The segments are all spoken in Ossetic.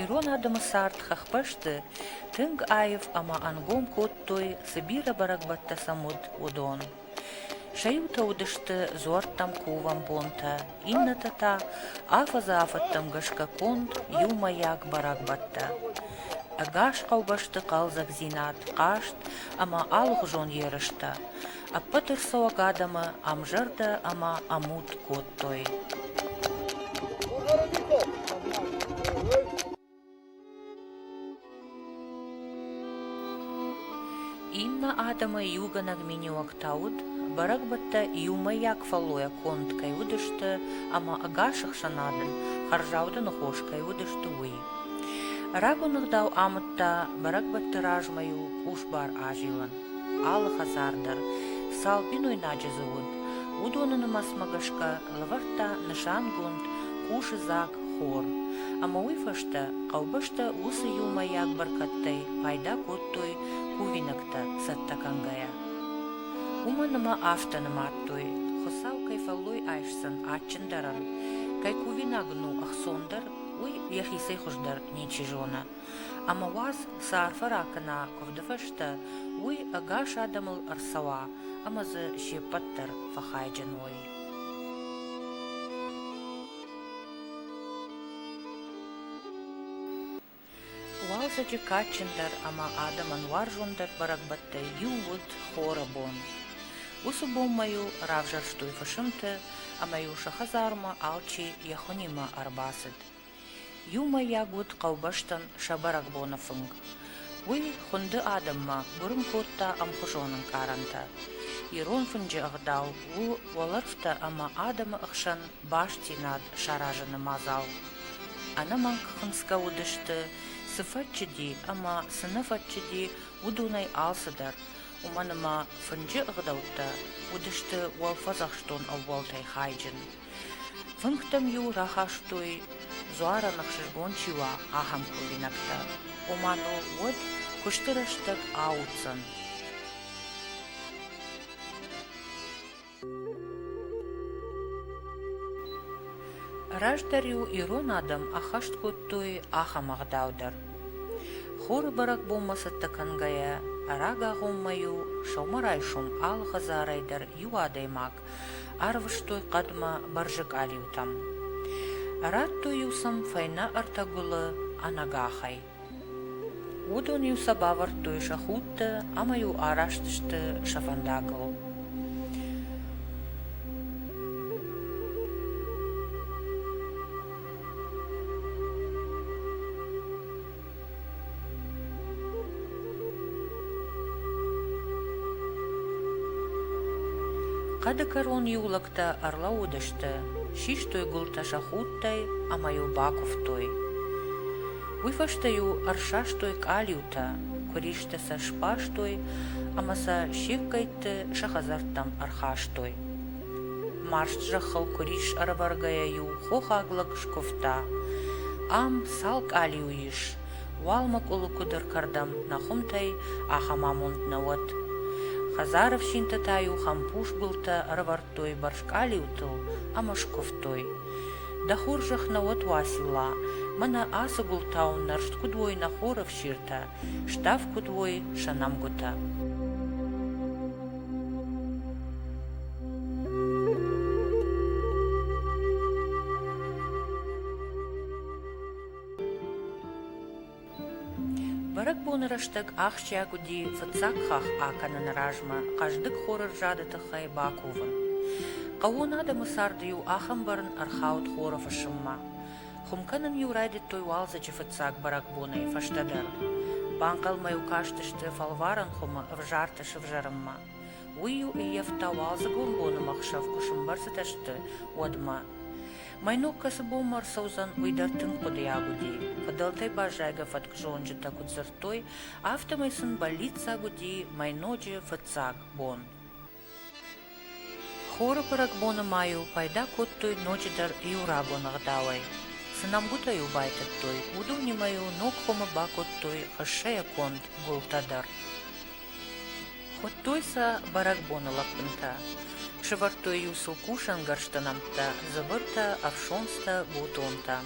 Ирон адӕмы цард хӕхбӕсты тынг аив ӕмӕ ӕнгом кодтой, цы бирӕ бӕрӕгбӕттӕ сӕм уыд, уыдон. Сӕ иутӕ уыдысты дзуӕрттӕм кувӕн бонтӕ, иннӕтӕ та афӕдзы-афӕдтӕм гӕсгӕ конд иумӕйаг бӕрӕгбӕттӕ. Ӕгас хъӕубӕсты хъӕлдзӕгдзинад, хъазт ӕмӕ алыгъуызон ерыстӕ ӕппӕт ӕрцӕуӕг адӕмы ӕмзӕрдӕ ӕмӕ ӕмуд кодтой. Иннӕ адӕмы иугӕнӕг миниуӕгтӕ уыд, бӕрӕгбӕттӕ иумӕйаг фӕллойӕ конд кӕй уыдысты ӕмӕ ӕгас ӕхсӕнадӕн хӕрзауды ныхос кӕй уыдысты, уый. Рагон ӕгъдау амыдта, бӕрӕгбӕтты размӕ-иу къусбар азилын, алы хӕдзар дӕр цал бинойнаджы дзы уыд, уыдоны нымӕцмӕ гӕсгӕ ӕлвӕрдта нысангонд къусыдзаг хор, ӕмӕ уый фӕстӕ хъӕубӕстӕ уыцы иумӕйаг бӕркӕдтӕй пайда кодтой кувинӕгтӕ цӕттӕ кӕнгӕйӕ. Уымӕн ӕмӕ афтӕ нымадтой, Хуыцау кӕй фӕллой айсдзӕн адджындӕрӕн, кӕй кувинаг ын у ӕхцондӕр, уый йӕхицӕй хуыздӕр ничи зоны. Ӕмӕ уадз, цы арфӕ ракӕна куывды фӕстӕ, уый ӕгас адӕмыл ӕрцӕуа ӕмӕ дзы се ппӕт дӕр фӕхайджын уой. Уалдзӕджы кадджындӕр ӕмӕ адӕмӕн уарзондӕр бӕрӕгбӕттӕй иу уыд хоры бон. Уыцы бомбӕ-иу равзӕрстой фысымты ӕмӕ-иу сӕ хӕдзармӕ алчи йӕ хуынимӕ ӕрбацыд. Иумӕйаг уыд хъӕубӕстӕн сӕ бӕрӕгбоны фынг. Уый хуынды адӕммӕ гуырын кодта ӕмхуызон ӕнкъарӕнтӕ. Ирон фынджы ӕгъдау у уӕлӕрвтӕ ӕмӕ адӕмы ӕхсӕн бастдзинад саразыны мадзал. Ӕнӕмӕнг хынцгӕ уыдысты, цы фӕччыди ӕмӕ цы нӕ фӕччыди, уыдонӕй алцыдӕр, уымӕн ӕмӕ фынджы ӕгъдӕуттӕ уыдысты уӕлфӕдзӕхстон ӕууӕлтӕй хайджын. Фынгтӕм-иу рахастой, дзуарӕн ӕхсызгон чи уа, ахӕм кувинӕгтӕ, ома дыл уӕд куысты рӕстӕг ауыдзӕн. Раздӕр-иу ирон адӕм ӕххӕст кодтой ахӕм ӕгъдау дӕр. Хуры бӕрӕгбонмӕ цӕттӕ кӕнгӕйӕ, ӕрӕгагъоммӕ-иу сӕумӕрайсом алы хӕдзарӕй дӕр иу адӕймаг Арвыстой хъӕдмӕ бӕрзы къалиутӕм. Радтой-иу сӕм фӕйнӕ ӕртӕ гуылы ӕнӕгахӕй. Уыдон-иу сӕ бавӕрдтой сӕ худты ӕмӕ-иу араст сты сӕ фӕндагыл. Хъӕды кӕрон иу лӕгтӕ ӕрлӕууыдысты, систой гуылтӕ сӕ худтӕй ӕмӕ-иу бакуывтой. Уый фӕстӕ-иу ӕрсастой къалиутӕ, куыристӕ сӕ сбарстой ӕмӕ сӕ се ккӕйтты сӕ хӕдзӕрттӕм ӕрхастой. Марст зӕххыл куырис ӕрӕвӕргӕйӕ-иу хохаг лӕг скуывта: «Ам цал къалиу ис, уал мӕкъуылы куыдыр кӕрдӕм нӕ хуымтӕй ахӕм амонд нӕ уӕд!» Хӕдзары фсинты та-иу хӕмпус гуылтӕ ӕрӕвӕрдтой бӕрзкъалиутыл ӕмӕ скуывтой: «Дӕ хорзӕх нӕ уӕд, Уацилла, мӕнӕ ацы гуылтау нӕрст куыд уой нӕ хоры фсиртӕ!» Став куыд уой сӕ нӕмгуытӕ. Бӕрӕгбоны рӕстӕг ахсджиаг уыди фыццаг хахх акӕныны размӕ хъӕздыг хоры рзады тыххӕй бакувын. Хъӕуон адӕмы царды-иу ахӕм бӕрн ӕрхауд хоры фысыммӕ. Хуым кӕнын-иу райдыдтой уалдзӕджы фыццаг бӕрӕгбонӕй фӕстӕдӕр. Банхъӕлмӕ-иу кастысты фӕлварӕн хуымы ӕвзарты сывзӕрынмӕ. Уый-иу ӕййӕфта уалдзыгон боны'мӕхсӕв куы сымбӕрзыдысты, уӕдмӕ. Мӕ ног кӕцы бонмӕ ӕрцӕудзӕн, уый дӕр тынг хъуыдыйаг уыди. Фыдӕлтӕй баззайгӕ фӕткзонджытӕ куыд дзырдтой, афтӕмӕй сын бӕллиццаг уыди мӕй ноджы фыццаг бон. Хоры бӕрӕгбоны ма-иу пайда кодтой ноджыдӕр иу рагон ӕгъдауӕй. Цы нӕмгуытӕ-иу байтыдтой, уыдонимӕ-иу ног хуымы бакодтой хӕссӕйӕ конд гуылтӕ дӕр. Хуыдтой сӕ бӕрӕгбоны лӕппынтӕ. Сӕвӕрдтой-иу сыл кусӕнгӕрзты нӕмттӕ, дзывыртӕ, ӕфсонцтӕ, гутонтӕ.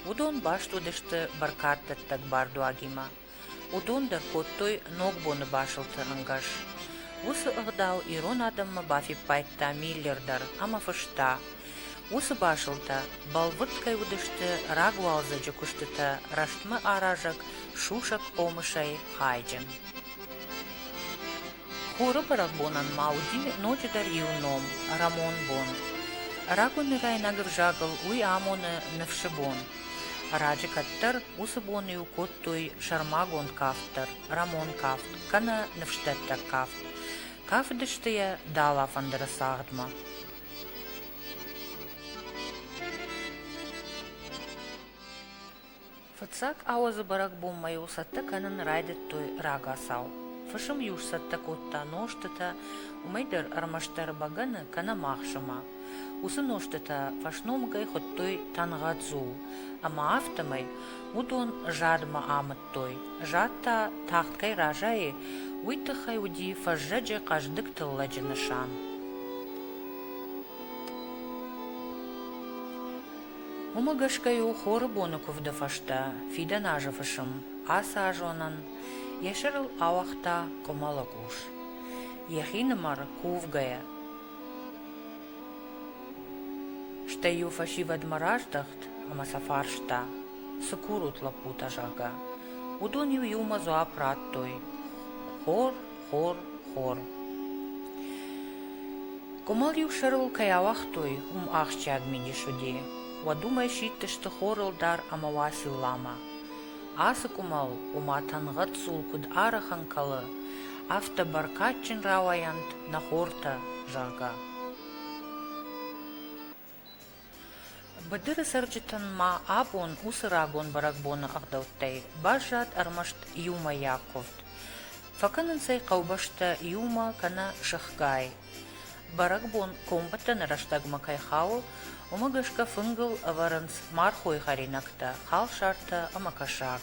Уыдон баст уыдысты бӕркаддӕттӕг бардуагимӕ. Уыдон дӕр кодтой Ногбоны басылты ӕнгӕс. Уыцы ӕгъдау ирон адӕммӕ бафиппайдта Миллер дӕр ӕмӕ фыста, уыцы басылтӕ бӕлвырд кӕй уыдысты рагуалдзӕджы куыстытӕ рӕстмӕаразӕг сусӕг хъомысӕй хайджын. Хоры бӕрӕгбонӕн ма уыди ноджыдӕр иу ном, Рӕмон бон. Рагонирайнаг ӕвзагыл уый амоны ныфсы бон. Раджы кӕддӕр уыцы бон-иу кодтой сӕрмагонд кафт дӕр, Рӕмон кафт, кӕнӕ ныфсдӕттӕг кафт. Кафыдысты йӕ дӕлӕфӕндыры цагъдмӕ. Фыццаг ауӕдзы бӕрӕгбонмӕ-иу цӕттӕ кӕнын райдыдтой рагацау. Фысым-иу сцӕттӕ кодта нозтытӕ, уымӕй дӕр ӕрмӕстдӕр бӕгӕны, кӕнӕ махсымӕ. Уыцы нозтытӕ фӕсномыгӕй хуыдтой тангъӕдзул, ӕмӕ афтӕмӕй уыдон задмӕ амыдтой. Зад та тагъд кӕй разайы, уый тыххӕй уыди фӕззӕджы хъӕздыг тыллӕджы нысан. Уымӕ гӕсгӕ-иу хоры боны куывды фӕстӕ фидӕн азы фысым ацы азонӕн йӕ сӕрыл ауагъта къуымӕлы къус, йӕхинымӕр кувгӕйӕ. Стӕй-иу фӕсивӕдмӕ раздӕхт ӕмӕ сӕ фарста, цы курут, лӕппутӕ, зӕгъгӕ. Уыдон-иу иумӕ дзуапп радтой: хор Хор, хор. Къуымыл-иу сӕрыл кӕй ауагътой, уым ахсджиаг мидис уыди. Уӕд уымӕй сидтысты хорылдар ӕмӕ Уацилламӕ. Ацы къуымыл, ома тӕнгъӕд цъул куыд ӕрыхын кӕлы, афтӕ бӕркадджын рауайӕнт нӕ хортӕ, зӕгъгӕ. Быдыры цӕрджытӕн ма абон уыцы рагон бӕрӕгбоны ӕгъдӕуттӕй баззад ӕрмӕст иумӕйаг къуывд. Фӕкӕнынц ӕй хъӕубӕстӕ иумӕ кӕнӕ сыхгай. Бӕрӕгбон комбӕттӕны рӕстӕгмӕ кӕй хауы, уымӕ гӕсгӕ фынгыл ӕвӕрынц мархой хӕринӕгтӕ, халсартӕ ӕмӕ кӕсаг.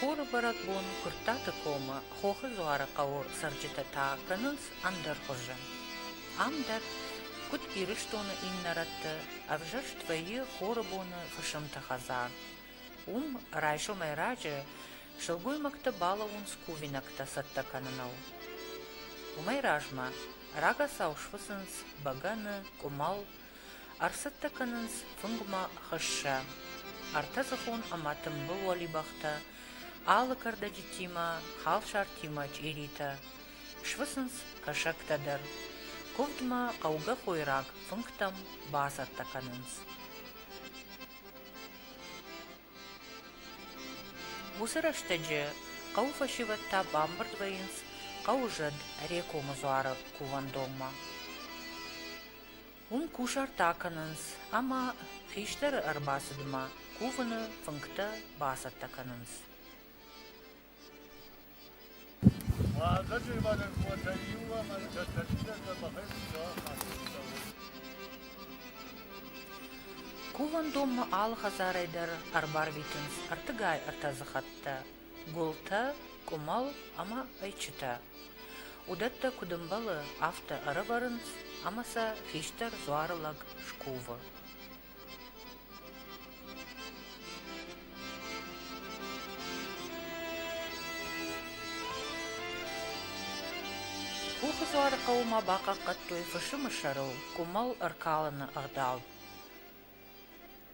Хоры бӕрӕгбон Куырттаты комы Хохы Дзуары хъӕуы цӕрджытӕ та кӕнынц ӕндӕр хуызы. Ам дӕр, куыд Ирыстоны иннӕ рӕтты, ӕвзӕрст вӕййы хоры боны фысымты хӕдзар. Уым райсомӕй раджы сылгоймӕгтӕ балӕууынц кувинӕгтӕ цӕттӕ кӕныныл. Уымӕй размӕ рагацау сфыцынц бӕгӕны, къуымӕл, Ӕрцӕттӕ кӕнынц фынгмӕ хӕссӕ, ӕртӕдзыхон ӕмӕ тымбыл уӕлибӕхтӕ, алы кӕрдӕджытимӕ, халсартимӕ чъиритӕ. Сфыцынц кӕсӕгтӕ дӕр. Куывдмӕ хъӕугӕ хойраг фынгтӕм бацӕттӕ кӕнынц. Уыцы рӕстӕджы хъӕуы фӕсивӕдтӕ бамбырд вӕййынц хъӕуы зӕд Рекомы дзуары кувӕндонмӕ. Уым кусарт акӕнынц ӕмӕ хистӕры ӕрбацыдмӕ кувыны фынгтӕ бацӕттӕ кӕнынц. Уазӕджермагӕн къуатӕй иу ӕмӕ тӕттӕ чидӕртӕ бахӕццӕ хӕццӕ Кувӕндонмӕ алы хӕдзарӕй дӕр ӕрбарвитынц ӕртыгай-ӕртӕдзы хӕттӕ. гуылтӕ, къуымӕл ӕмӕ ӕйчытӕ. Уыдӕттӕ куыд ӕмбӕлы, афтӕ ӕрӕвӕрынц ӕмӕ сӕ хистӕр дзуары лӕг скувы. Хохы дзуары хъӕуы ма бахъахъхъӕдтой фысымы сӕрыл къуымӕл ӕркалыны ӕгъдау.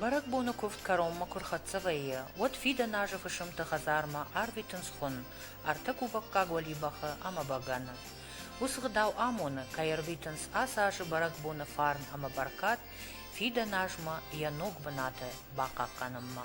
Бӕрӕгбоны куывд кӕронмӕ куы рхӕццӕ вӕййы, уӕд фидӕн азы фысымты хӕдзармӕ арвитынц хуын, ӕртӕ кувӕггаг уӕлибӕхы ӕмӕ бӕгӕны. Уыцы гъдау амоны, кӕй ӕрвитынц ацы азы бӕрӕгбоны фарн ӕмӕ бӕркад фидӕн азмӕ йӕ ног бынаты бахъахъхъӕнынмӕ.